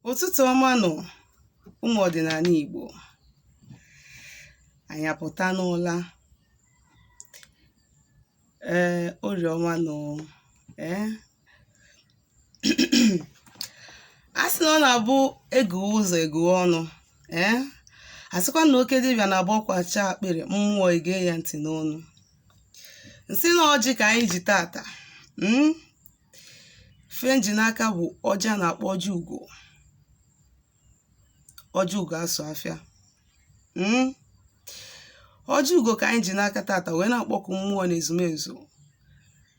ụtụtụ ọma nụ ụmụ ọdịnala Igbo anyị apụta n'ụla ee orie ọma nụ ee a sị na ọ na-abụ eguwe ụzọ eguwe ọnụ ee a sịkwa na oke dibịa na-abụ ọkwacha akpịrị mmụọ egee ya ntị n'ọnụ nsị na ọjị ka anyị ji tata ife nji n'aka bụ ọjị a na-akpọ ọjị ugo ọjị ugo asọ afịa mm? ọjị ugo ka anyị ji n'aka tata wee na-akpọku mmụọ na ezumezu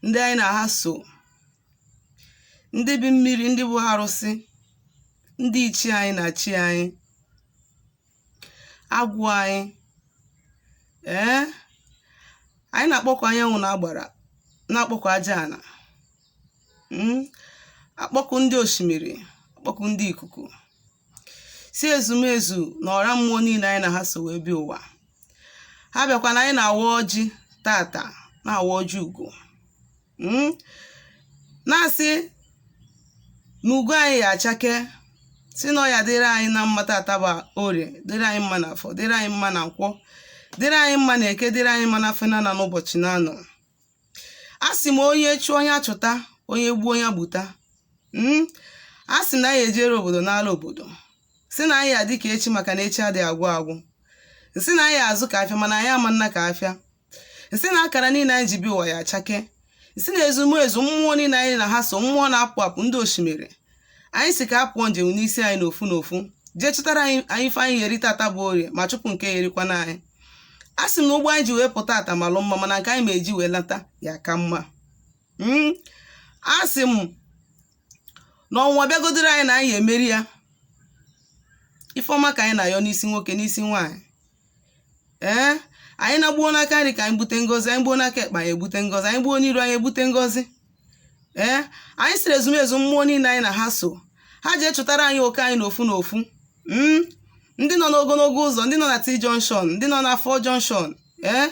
ndị anyị na ha so ndị bi mmiri ndị bụ arụsị ndị ichie anyị na chi anyị agwụ anyị ee anyị na-akpọku anyanwụ na agbara na-akpọku aja ana hmm? akpọku ndị osimiri akpọku ndị ikuku sị ezumezu na ọra mmụọ niile anyị na ha so wee bịa ụwa ha bịakwa na anyị na-awa ọjị tata na-awa ọjị ugo hmm? na-asị na ugo anyị ya-achake sị na ọ ya-adịrị anyị na mma tata bụ orie dịrị anyị mma na afọ dịrị anyị mma na nkwọ dịrị anyị mma na eke dịrị anyị mma na afọ na n'ụbọchị na anọ a sị m onye chụọ onye achụta onye gbuo onye egbuta hmm? a sị na anyị ejere obodo n'ala obodo sị na anyị ya-adị ka echi maka na echi adịghị agwụ agwụ nsị na anyị ya-azụ ka afịa mana anyị ama ana ka afịa nsị na akara niile anyị ji bịa ụwa ya-achake nsị na ezumezu mmụọ niile anyị na ha so mmụọ na-apụ apụ ndị osimiri anyị sị ka ha pụọ njem n'isi anyị n'ofu n'ofu jee chụtara anyị anyị ife anyị ya-eri tata bụ orie ma chụpụ nke ya-erikwanụ anyị a sị m na ụgbọ anyị ji wee pụta tata malụ mma mana nke anyị ya-eji wee lata ya-aka mma Mm, a sị m na ọnwụnwa bịagodoro anyị na anyị ya-emeri ya ife ọma ka anyị na-ayọ n'isi nwoke n'isi nwaanyị ee anyị na gbuo n'aka nri ka anyị gbute ngozi anyị gbuo n'aka ekpe anyị egbute ngozi anyị gbuo n'iru anyị egbute ngozi ee anyị sịrị ezumezu mmụọ niile anyị na ha so ha jee chụtara anyị oke anyị n'ofu n'ofu hmm? ndị nọ n'ogonogo ụzọ ndị nọ na t junction ndị nọ na four junction ee eh?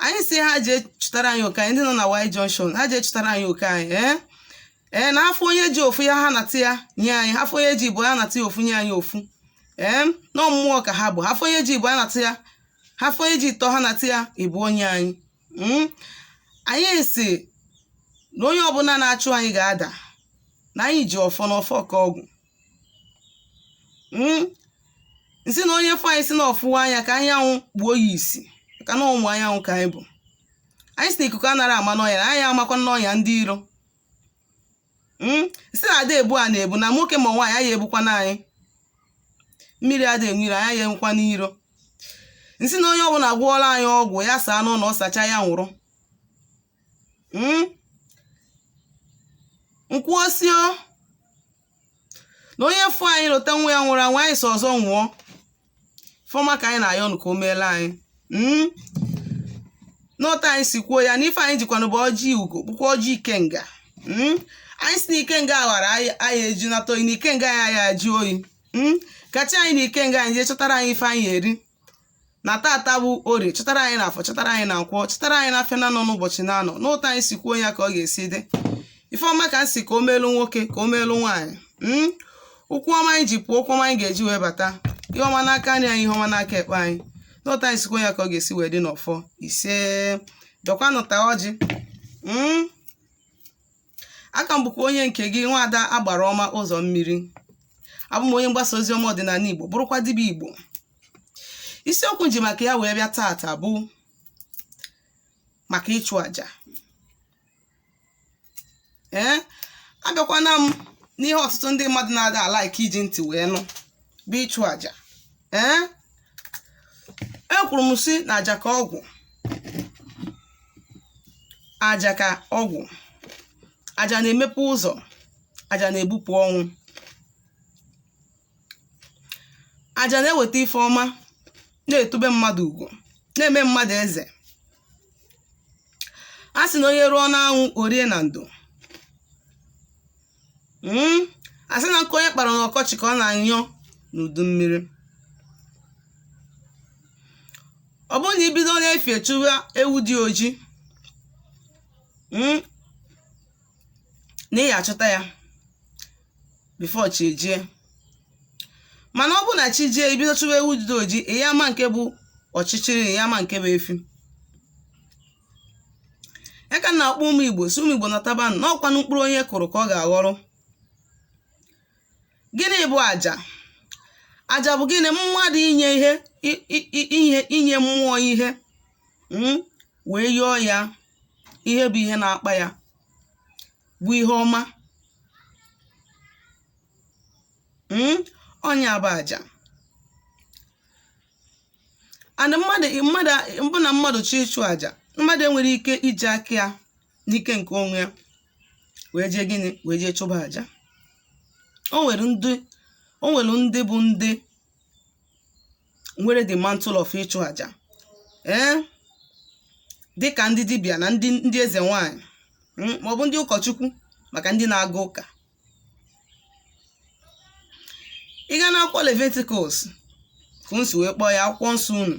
anyị sị ha jee chụtara anyị oke anyị ndị nọ na y junction ha jee chụtara anyị oke anyị ee eh? ee na ha fụ onye ji ofu ya ha nata ya nye anyị ha fụ onye ji ịbụọ ya nata ya ofu nye anyị ofu ee na ọ mmụọ ka ha bụ ha fụ onye ji ịbụọ ya nata ya ha fụ onye ji ịtọ ha nata ya ịbụọ nye anyị hmm? anyị sị na onye ọbụla na-achụ anyị ga-ada na anyị ji ọfọ na ọfọ ka ọgwụ hmm? nsị na onye fụ anyị sị na ọ fụrọ anyị ka anyanwụ kpuo ya isi maka na ụmụ anyanwụ ka anyị bụ anyị sị na ikuku anara ama n'ọnya na anyị amakwa n'ọnya ndị iro hmm? m si na ada ebu ana ebu na nwoke ma nwaanyị anyị ebukwana anyị mmiri ada enwe iro anyị enwekwana iro m sị na onye ọbụna gwọọla anyị ọgwụ ya saa n'ụnọ ọ sacha ya nwụrụ hmm? m kwuo si o na onye fụ anyị lụta nwa ya nwụrụ anwụ anyị si ọzọ nwụọ ife ọma ka anyị na-ayọ nụ ka o meelu anyị mm? n'otu anyị si kwuo ya na ife anyị jikwanụ bụ ọjị ugo bụkwa ọjị ikenga mm? anyị si na ikenga ghara anyị anyị eji nata oyi na ikenga anyị anyị ajụ oyi mm? ka chi anyị na ikenga anyị jee chọtara anyị ife anyị ya-eri na tata bụ orie chọtara anyị na afọ chọtara anyị na nkwọ chọtara anyị na afịa na anọ n'ụbọchị na anọ n'otu anyị si kwuo ya ka ọ ga-esi dị ife ọma ka m si ka o meelu nwoke ka o meelu nwaanyị mm? ụkwụ ọma anyị ji pụọ ụkwụ ọma anyị ga-eji wee bata ihe ọma n'aka nri anyị ihe ọma n'aka ekpe anyị n'otu anyị si kwuo ya ka ọ ga-esi wee dị n'ọfọ ise dọkwanụ taa ọjị mm? aka m bụkwa onye nke gị nwaada agbara ọma ụzọ mmiri abụ m onye mgbasa ozi ọma ọdịnala igbo bụrụkwa dibịa igbo isiokwu m ji maka ya wee bịa taata bụ maka ịchụ àjà ee abịakwana m n'ihe ọtụtụ ndị mmadụ na-ada a-like iji ntị wee nụ bụ ịchụ àjà ee ekwuru m si na aja ka ọgwụ aja ka ọgwụ aja na-emepe ụzọ aja na-ebupụ ọnwụ aja na-eweta ife ọma na-etube mmadụ ugwu na-eme mmadụ eze a sị na onye rụọ n'anwụ o rie na ndo hmm? a sị na nkụ onye kpara n'ọkọchị ka ọ na-anya n'udu mmiri ọ bụrụ na i bido n'efi chụba ewu dị oji hmm? na ị ya-achọta ya before chi ejie mana ọ bụ na chi jie i bido chụba ewu dị oji ị ya ama nke bụ ọchịchịrị ị ya ama nke bụ efi ya ka m na-akpọ ụmụ igbo si ụmụ igbo natabanụ n'ọkwanụ mkpụrụ onye kụrụ ka ọ ga-aghọrọ gịnị bụ aja aja bụ gịnị mmadụ inye ihe i- i- i- ihe inye mmụọ ihe mm, wee yọọ ya ihe bụ ihe na-akpa ya bụ ihe ọma mm, ọ nya bụ aja and mmadụ mbụ na mmadụ chọọ ịchụ aja mmadụ enwere ike iji aka ya n'ike nke onwe ya wee jee gịnị wee jee chụba aja o nwere ndị bụ ndị nwere the mantle of ịchụ aja ee dịka ndị dibịa na ndị eze nwanyị mm, maọbụ ndị ụkọchukwu maka ndị na-aga ụka ị gaa n'akwụkwọ leviticus ka unu si wee kpọọ ya akwụkwọ nsọ unu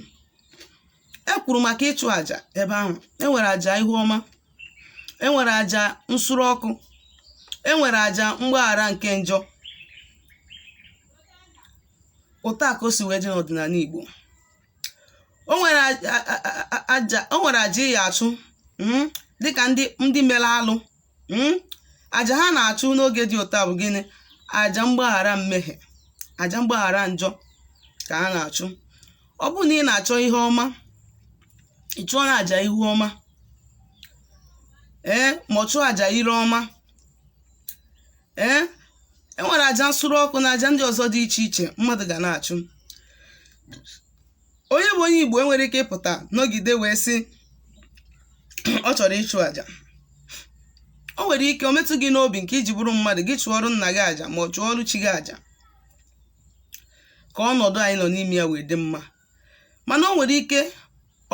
e kwuru maka ịchụ àjà ebe ahụ e nwere àjà ihu ọma e nwere àjà nsure ọkụ e nwere àjà mgbaghara nke njọ ụta ka o si wee dị n'ọdịnala igbo o nwere aja ị ya-achụ mm, dịka ndị mere alụ mm, aja ha na-achụ n'oge dị ụta bụ gịnị aja mgbaghara mmehie aja mgbaghara njọ ka ha na-achụ ọ bụrụ na ị na-achọ ihe ọma ị chụọ na aja ihu ọma ee ma ọ chụọ aja ire ọma ee e nwere aja nsure ọkụ na aja ndị ọzọ dị iche iche mmadụ ga na-achụ onye bụ onye igbo enwere ike ịpụta nọgide wee sị ọ chọrọ ịchụ aja o nwere ike o metụ gị n'obi nke i ji bụrụ mmadụ gị chụọrụ nna gị aja ma ọ chụọrụ chi gị aja ka ọnọdụ anyị nọ n'ime ya wee dị mma mana o nwere ike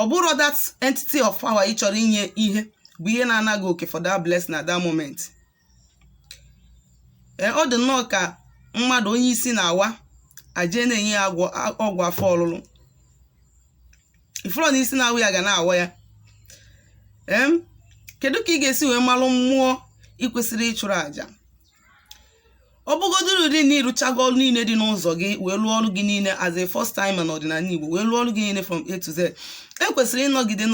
ọ bụrụ that entity of power ị chọrọ inye ihe bụ ihe na-anaghị okay for that blessing at that moment ee ọ dị nnọọ ka mmadụ onye isi na-awa a je na-enye ya ọgwụ afọ ọlụlụ ị fụlọ na isi na-awa ya ga na-awa ya em kedu ka ị ga-esi wee malụ mmụọ ị kwesịrị ịchụrụ àjà ọ bụgoduru dị na ị rụchago ọrụ niile dị n'ụzọ gị wee lụọ ọrụ gị niile as a first timer n'ọdịnala Igbo wee lụọ ọrụ gị niile from A to Z i kwesịrị ịnọgide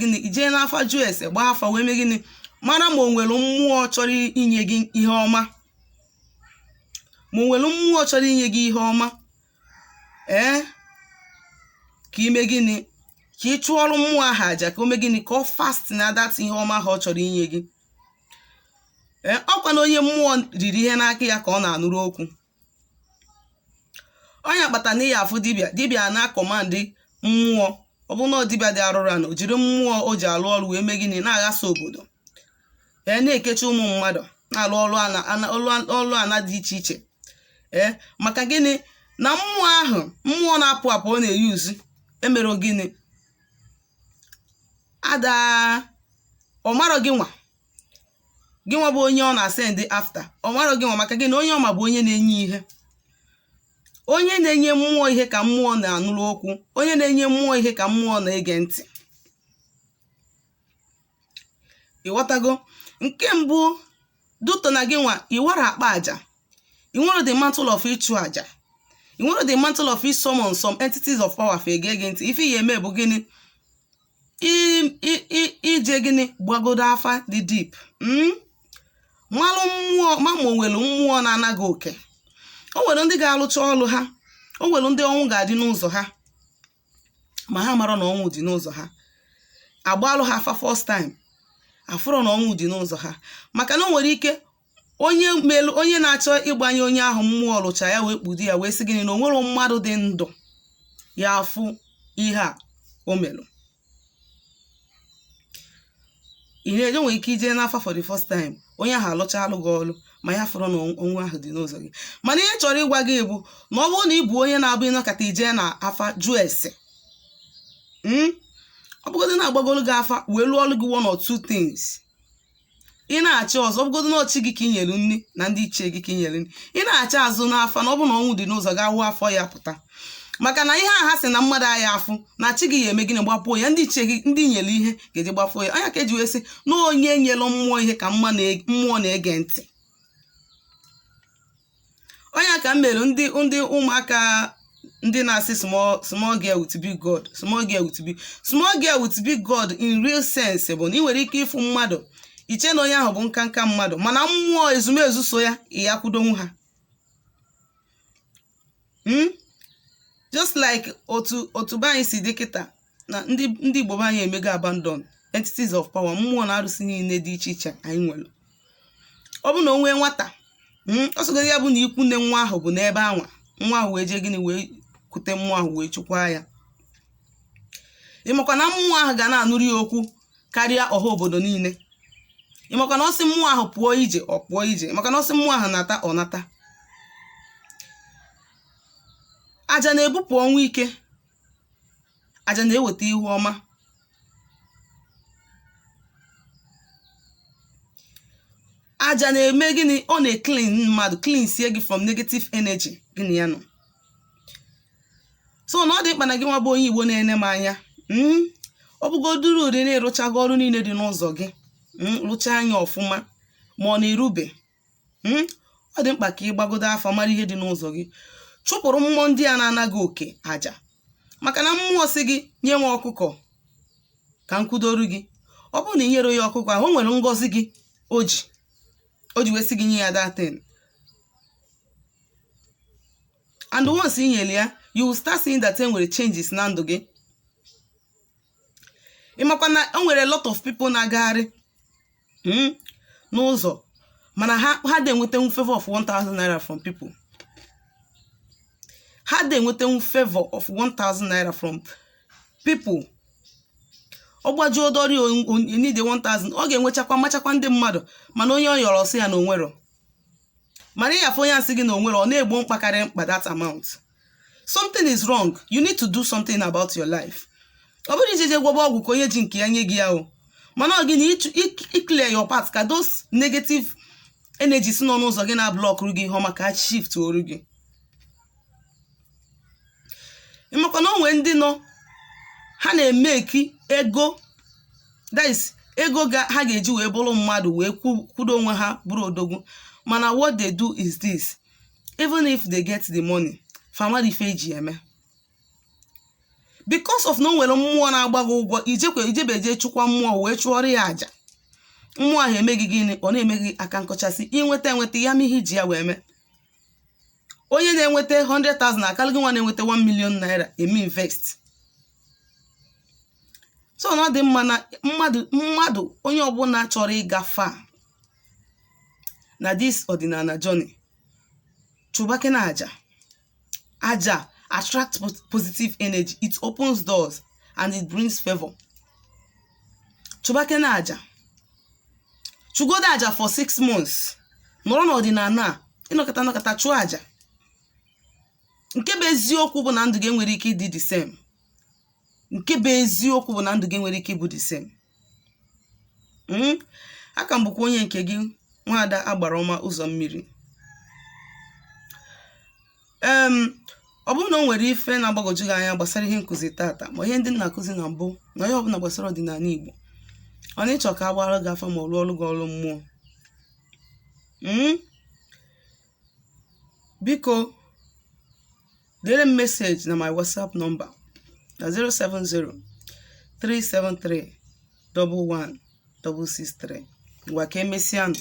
gịnị i jee n'afa jụọ ese gbaa afa wee mee gịnị mara ma o nwere mmụọ chọrọ inye gị ihe ọma ma o nwere mmụọ chọrọ inye gị ihe ọma ee ka i mee gịnị ka ị chụọrọ mmụọ ahụ aja ka o mee gịnị ka ọ fasten that ihe ọma ahụ ọ chọrọ inye gị ee ọ kwa na onye mmụọ riri ihe n'aka ya ka ọ na-anụrụ okwu ọ nya kpata na ị ya-afụ dibịa dibịa na-acommand mmụọ ọ bụ na ọ dibịa dị arụrụ ana o jiri mmụọ o ji alụ ọrụ wee mee gịnị na-aghasa obodo ee na-ekechi ụmụ mmadụ na-alụ ọrụ ana dị iche iche ee maka gịnị na mmụọ ahụ mmụọ na-apụ apụ ọ na-euse emere gịnị ada ọ marọ gị nwa gị nwa bụ onye ọ na-asend after ọ marọ gị nwa maka gịnị onye ọ ma bụ onye na-enye ihe onye na-enye mmụọ ihe ka mmụọ na-anụrụ okwu onye na-enye mmụọ ihe ka mmụọ na-ege ntị ịghọtago nke mbụ due to na gị nwa iwara akpa aja i nwere the mantle of ịchụ aja i nwere the mantle of ịsummon some entities of power fa ege gị ntị ife ị ya-eme bụ gịnị i jee gịnị gbagodo afa dị deep hmm? malụ mmụọ ma ma o nwere mmụọ na-ana gị oke o nwere ndị ga-alụcha ọlụ ha o nwere ndị ọnwụ ga-adị n'ụzọ ha ma ha marọ na ọnwụ dị n'ụzọ ha agbaalụ ha afa first time afụrọ na ọnwụ dị n'ụzọ ha maka na o nwere ike onye melu onye na-achọ ịgbanye onye ahụ mmụọ lụcha ya wee kpudo ya wee sị gịnị na o nwerọ mmadụ dị ndụ ya-afụ ihe a o melụ ihe enye nwere ike ije n'afa for the first time onye ahụ alụchaalụ gị ọlụ ma ya afụrọ na ọnwụ ahụ dị n'ụzọ gị mana ihe chọrọ ịgwa gị bụ na ọ bụrụ na ị bụ onye na-abụ ị nọkata i jee na afa jụọ ese ọ bụgodị na agbagolu gị afa wee lụọ ọlụ gị one or two things ị na-achị ọzọ ọ bụgodu na ọ chi gị ka i nyelu nri na ndị ichie gị ka i nyelu nri ị na-achị azụ n'afa na ọ bụ na ọnwụ dị n'ụzọ ga wụ afọ ya pụta maka na ihe a ha sị na mmadụ aya afụ na chi gị ya-eme gịnị gbapuo ya ndị ichie gị ndị i nyelu ihe ga-eji gbapuo ya ọ nya ka eji wee sị na onye nyelu mmụọ ihe ka mmụọ na-ege ntị ọ nya ka mere ndị ndị ụmụaka ndị na-asị small small girl with big god small girl with big small girl with big god in real sense bụ na ị nwere ike ịfụ mmadụ i chee na onye ahụ bụ nkanka mmadụ mana mmụọ ezumezu so ya ị ya kwudonwu ha hmm? just like otu otu be anyị si dị kịta na ndị ndị Igbo be anyị emego abandon entities of power mmụọ na arụsị niile dị iche iche anyị nwere ọ bụ na o nwee nwata hmm, ọ sọgodu ya bụ na ikwu nne nwa ahụ bụ n'ebe anwa nwa ahụ wee jee gịnị wee kute mmụọ ahụ wee chịkwaa ya ị makwa na mmụọ ahụ ga na-anụrụ ya okwu karịa ọha obodo niile ị makwa na ọ sị mmụọ ahụ pụọ ije ọ pụọ ije ị makwa na ọ sị mmụọ ahụ nata ọ nata aja na-ebupụ ọnwụ ike aja na-eweta ihu ọma aja na-eme gịnị ọ na-eclean mmadụ cleansie gị from negative energy gịnị ya nọ so na ọ dị mkpa na gị nwa bụ onye igbo na-ene m anya hmm? ọ bụgodoro ụdị na ị rụchago ọrụ niile dị n'ụzọ gị hmm? rụchaa anya ọfụma ma ọ na ị rụbe hmm? ọ dị mkpa ka ị gbagodo afa mara ihe dị n'ụzọ gị chụpụrụ mmụọ ndị a na-ana gị oke aja maka na mmụọ sị gị nye nwa ọkụkọ ka m kwudoru gị ọ bụrụ na ị nyere ya ọkụkọ ahụ o nwere ngọzi gị o ji o ji wee sị gị nye ya that thing and once i nyere ya you will start seeing that e nwere changes na ndụ gị ị makwa na o nwere a lot of people na-agagharị mm, n'ụzọ mana ha adị enwetenwu favor of 1000 naira from people ha adị enwetenwu favor of 1000 naira from people ọ gbajuo doro ọ need 1000 ọ ga-enwechakwa machakwa ndị mmadụ mana onye ọ yọrọ asị ya na o nwerọ mana ị ya-afụ onye a sị gị na o nwerọ ọ na-egbo mkpa karịa mkpa that amount something is wrong you need to do something about your life ọ bụrọ ije je gwọba ọgwụ ka onye ji nke ya nye gị ya o mana ọ gị na ịchụ- ik- ị clear your path ka those negative energies nọ n'ụzọ gị na-ablọkụrụ gị ihe ọma ka ha shiftuoru gị ị makwa na o nwere ndị nọ ha na-emeki ego that is ego ga ha ga-eji wee bụrụ mmadụ wee kwu- kwudo onwe ha bụrụ odogwu mana what they do is this even if they get the money fa amarọ ife e ji eme because of na o nwere mmụọ na-agba gị ụgwọ ijekwe ijebeje chụkwa mmụọ wee chụọrọ ya aja mmụọ ahụ eme gị gịnị ọ na-eme gị aka nkọchasị i nweta enweta ya ma ihe i ji ya wee mee onye na-enweta 100,000 akarị gị nwa na-enweta 1 million naira eme invest so na ọ dị mma na mmadụ mmadụ onye ọbụla chọrọ ịga far na this ọdịnala journey chụbakene aja aja attract pos- positive energy it opens doors and it brings favor chụbakene aja chụgodo aja for six months nọrọ n'ọdịnala a ị nọkata nọkata chụọ aja nke bụ eziokwu bụ na ndụ gị enwerọ ike ịdị the same nke bụ eziokwu bụ na ndụ gị enwerọ ike ịbụ the same hmm? aka m bụkwa onye nke gị nwaada agbara ọma ụzọ mmiri em ọ bụrụ na o nwere ife na-agbagwoju gị anya gbasara ihe nkụzi tata ma ihe ndị m na-akụzi na mbụ na ihe ọbụla gbasara ọdịnala Igbo ọ na ị chọ ka a gbaara gị afa ma ọ rụọrọ gị ọrụ mmụọ Mm? biko deere m message na my whatsapp nọmba na 070 373 11663 ngwa ka emesịanụ